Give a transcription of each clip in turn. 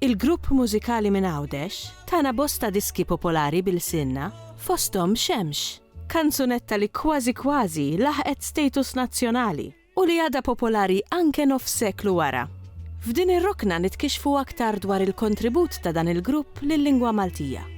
Il-grupp mużikali minn Għawdex tana bosta diski popolari b'ilsienna, fosthom Xemx, kanzunetta li kważi kważi laħqet status nazzjonali u li għadha popolari anke nofs seklu wara. F'din ir-rokna nitkixxfu aktar dwar il-kontribut ta' dan il-grupp lil-lingwa Maltija.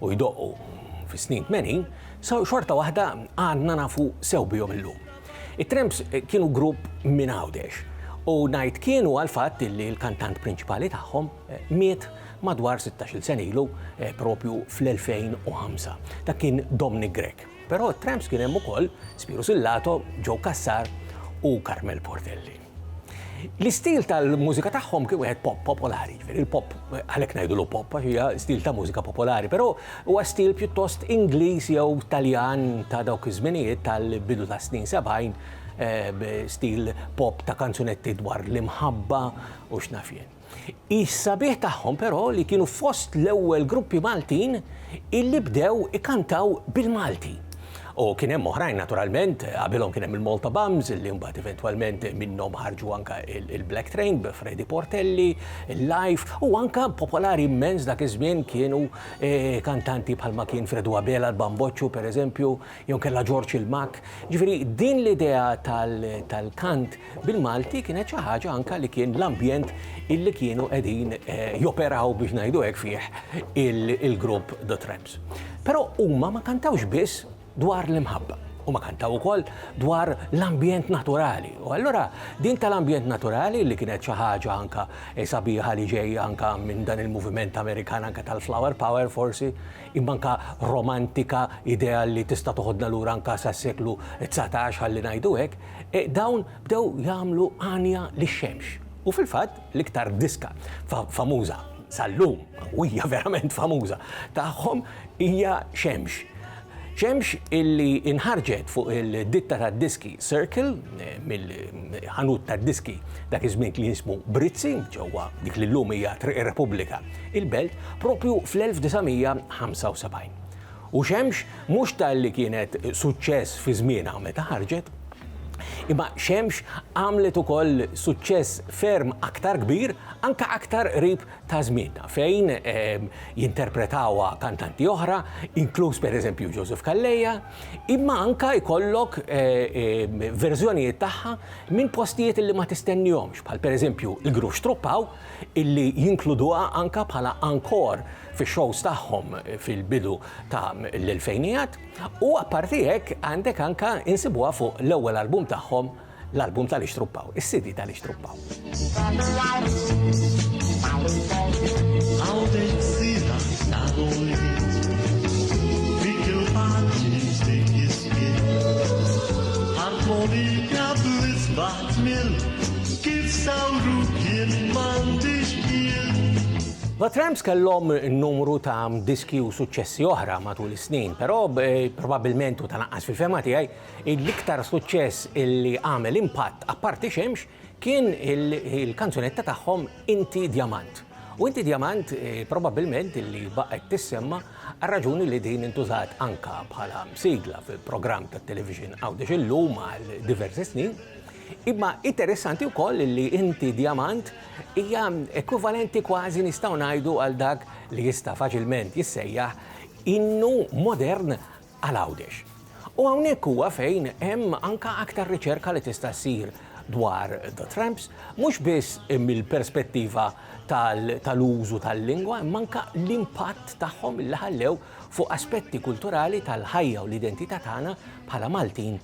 u jdoqqu fis-snin 80, xorta waħda għadna nafu sew bihom illum. It-Tramps kienu grupp minn Għawdex u ngħid kienu għal fatt li l-kantant prinċipali tagħhom eh, miet madwar 16-il sen ilu eh, propju fl-2005. Dak kien Dominic Grek. Però t-Tramps kien hemm ukoll Spiru Sillato, Joe Kassar u Carmel Portelli. L-istil tal-mużika tagħhom kien wieħed pop popolari, jiġifieri l-pop għalhekk ngħidulu pop għax hija stil ta' mużika popolari, però huwa stil pjuttost Ingliż jew Taljan ta' dawk iż-żminijiet tal-bidu tas-snin 70, stil pop ta' kanzunetti dwar l-imħabba u x'naf jien. Is-sabiħ tagħhom però li kienu fost l-ewwel gruppi Maltin illi bdew ikantaw bil-Malti. U kien hemm oħrajn naturalment, qabilhom kien hemm il-Malta Bums illi mbagħad eventwalment minnhom ħarġu anka il-Black Train b'Fredi Portelli, il-Life u anka popolari immens dak iż-żmien kienu eh, kantanti bħalma kien Fredu Abela l-Bamboccio pereżempju, jew kellha Ġorġ il-Makk. Ġifieri din l-idea tal-kant bil-Malti kienet xi ħaġa anke li kien l-ambjent illi kienu qegħdin joperaw biex ngħidu hekk fih il-grupp The Tramps. Però huma ma kantawx biss dwar l-imħabba. Huma kantaw ukoll dwar l-ambjent naturali. U allura din tal-ambjent naturali li kienet xi ħaġa anke sabiħa li ġejja anke minn dan il-moviment Amerikan anke tal-flower power forsi, Imma anke romantika, idea li tista' toħodna lura anke sas-seklu dsatax ħalli ngħidu hekk, dawn bdew jagħmlu għanja lix-xemx. U fil-fatt, l-iktar diska famuża, sal-lum, u hija verament famuża, tagħhom hija Xemx. Xemx illi nħarġet fuq il-ditta tad-diski Circle, mill-ħanut tad-diski dak iż-żmien kien jismu Brizzi, ġewwa dik li llum hija Triq ir-Repubblika. il-belt propju fl-1975. U xemx mhux talli kienet suċċess fi żmienha meta ħarġet, imma xemx għamlet ukoll suċċess ferm aktar kbir anke aktar qrib ta' żmienna fejn ehm, jinterpretawha kantanti oħra, inkluż pereżempju Joseph Calleja, imma anke jkollok eh, ehm, verżjonijiet tagħha minn postijiet li ma tistennihomx, bħal pereżempju il-Grux Truppaw illi jinkluduha anke bħala ankor fix-shows tagħhom fil-bidu ta' l-elfejnijat, u apparti hekk għandek anke insibuha fuq l-ewwel album tagħhom, l-album ta' l-Ixtruppaw, is-CD ta' l-Ixtruppaw. The Tramps kellhom numru ta' diski u suċċessi oħra matul is-snin, però probabbilment u tanaqqas fil-fema tiegħi, l-iktar suċċess illi għamel impatt apparti xemx kien il-kanzunetta tagħhom Inti Djamant. U inti djamant, probabbilment illi baqgħet tissemma għar-raġuni li din intużat anka bħala sigla fil-programm tat-television Għawdex illum għal diversi snin, imma interessanti wkoll illi inti djamant hija ekwivalenti kważi nistgħu ngħidu għal dak li jista' faċilment jissejjaħ innu modern għal Għawdex. U hawnhekk huwa fejn hemm anke aktar riċerka li tista' ssir dwar The Tramps, mhux biss mill-perspettiva tal-użu tal-lingwa imma anke l-impatt tagħhom li ħallew fuq aspetti kulturali tal-ħajja u l-identità tagħna bħala Maltin